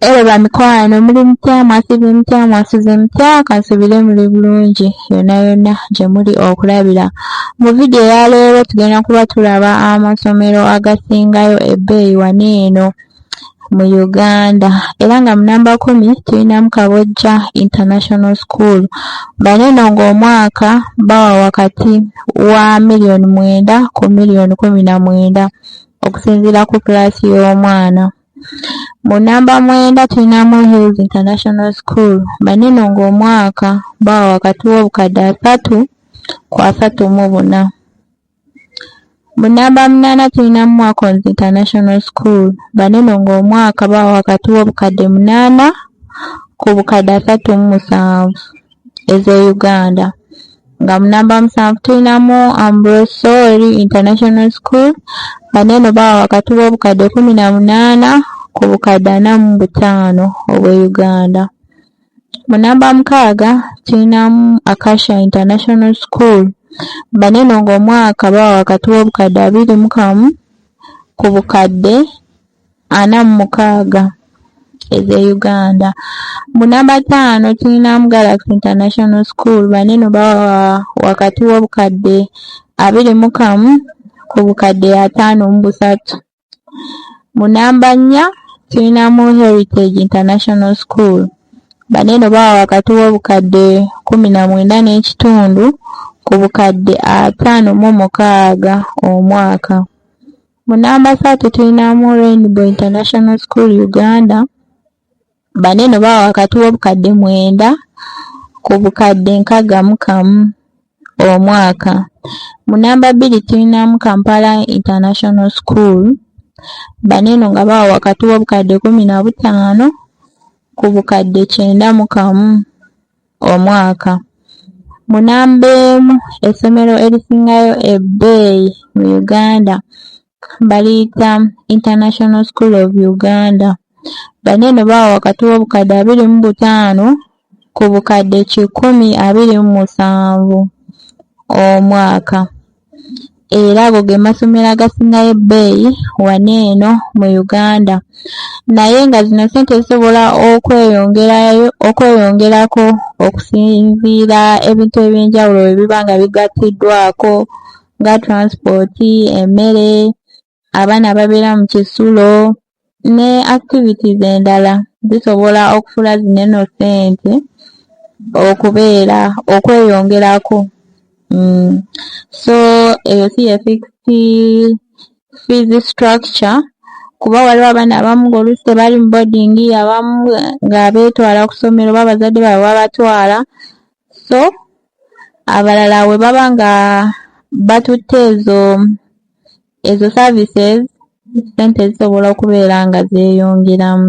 Elo ba mikwano muli mutya mwasibye mutya mwasuze mutya kansubire muli bulungi yona yona gye muli okulabira mu vidiyo eya leero tugenda kuba tulaba amasomero agasingayo ebbeeyi wano eno mu Uganda era nga munamba kumi tulinamu Kabojja International School bano eno ng'omwaka bawa wakati wa miliyoni mwenda ku miliyoni kumi na mwenda okusinziira ku pulaasi y'omwana. Mu nnamba mwenda tulinamu Hills International School banene ng'omwaka bawa wakati w'obukadde asatu ku asatu mu buna. Mu nnamba munaana tulinamu Mwakons International School banene ng'omwaka bawa wakati w'obukadde munaana ku bukadde asatu mu musanvu ez'e Uganda. nga mu namba musanvu tulinamu ambrosori international school nga neno bawa wakati w'obukadde kumi na munaana ku bukadde ana mu butaano obw'e uganda mu namba mukaaga tulinamu acacia international school nga neno ng'omwaka bawa wakati w'obukadde abiri mu kamu ku bukadde ana mu mukaaga ez'e Uganda. Mu namba ttaano tulinamu Galaxy International School bano eno bawa wakati w'obukadde abiri mu kamu ku bukadde ataano mu busatu. Mu namba nnya tulinamu Heritage International School bano eno bawa wakati w'obukadde kkumi na mwenda n'ekitundu ku bukadde ataano mu mukaaga omwaka. Mu namba satu tulinamu Rainbow International School Uganda, bano eno bawa wakati w'obukadde mwenda ku bukadde nkaaga mu kamu omwaka. Mu namba bbiri tulinamu Kampala International School, bano eno nga bawa wakati w'obukadde kumi na butaano ku bukadde kyenda mu kamu omwaka. Mu namba emu essomero erisingayo ebbeeyi mu Uganda baliyita International School of Uganda. Bano eno bawa wakati w'obukadde abiri mu butaano ku bukadde kikumi abiri mu musanvu omwaka. era ago ge masomero agasingayo ebbeeyi wano eno mu Uganda naye nga zino ssente zisobola okweyongerayo okweyongerako okusinziira ebintu eby'enjawulo bwe biba nga bigattiddwaako nga transport, emmere abaana ababeera mu kisulo ne activities endala zisobola okufula zino eno ssente okubeera okweyongerako mm. so eyo si ye fixed fees structure kuba waliwo abaana abamu ngaolusi tebali mu boarding abamu nga beetwala ku ssomero oba abazadde baabwe babatwala so abalala we baba nga batutte ezo ezo services sente zisobola okubeera nga zeeyongeramu.